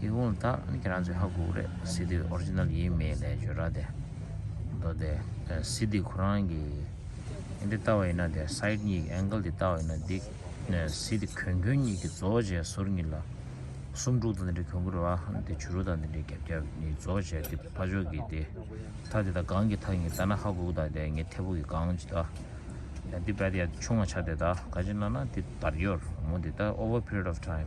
ཡིག་ཀོང་དག་ཁྱེད་རང་ཚོའི་ཧ་གོ་རེད་སི་ཏི་ཨོར་ཇི་ནལ་ཡིན་མིན་ལས་བརྗོད་ར་དེ་མདོ་སྟེ། སི་ཏི་ཁོ་རང་གི་འདི་ལྟ་བ་ཡིན་ན་དེ་སཱིད་གཉིས་ཀྱི་ཨེང་ཀལ་དེ་ལྟ་བ་ཡིན་ན་དེ་སི་ཏི་གོན་གོན་གཉིས་ཀྱི་རྫོགས་བྱས་ཟུར་གཉིས་ལ་སུམ་དྲུག་དང་འདི་འདྲའི་གོན་གོ་རེད་བ་དེ་བྱུ་རུ་དང་འདི་འདྲའི་རྒྱབ་རྒྱབ་གཉིས་རྫོགས་བྱས་དེ་ཕ་ཆོག་གི་དེ་ཐག་དེ་དག་གང་གི་ཐག་ཡིན་ལྟ་ན་ཧ་གོ་གི་དག་དེ་ངའི་ཐད་བུ་གི་གང་ཅི་དག་དེ་བད་དེ་ཡ་ཆུང་བ་ཆགས་དེ་དག་ག་ཅི་ན་ན་དེ་བར་ཡོར་མོ་དེ་ད over period of time།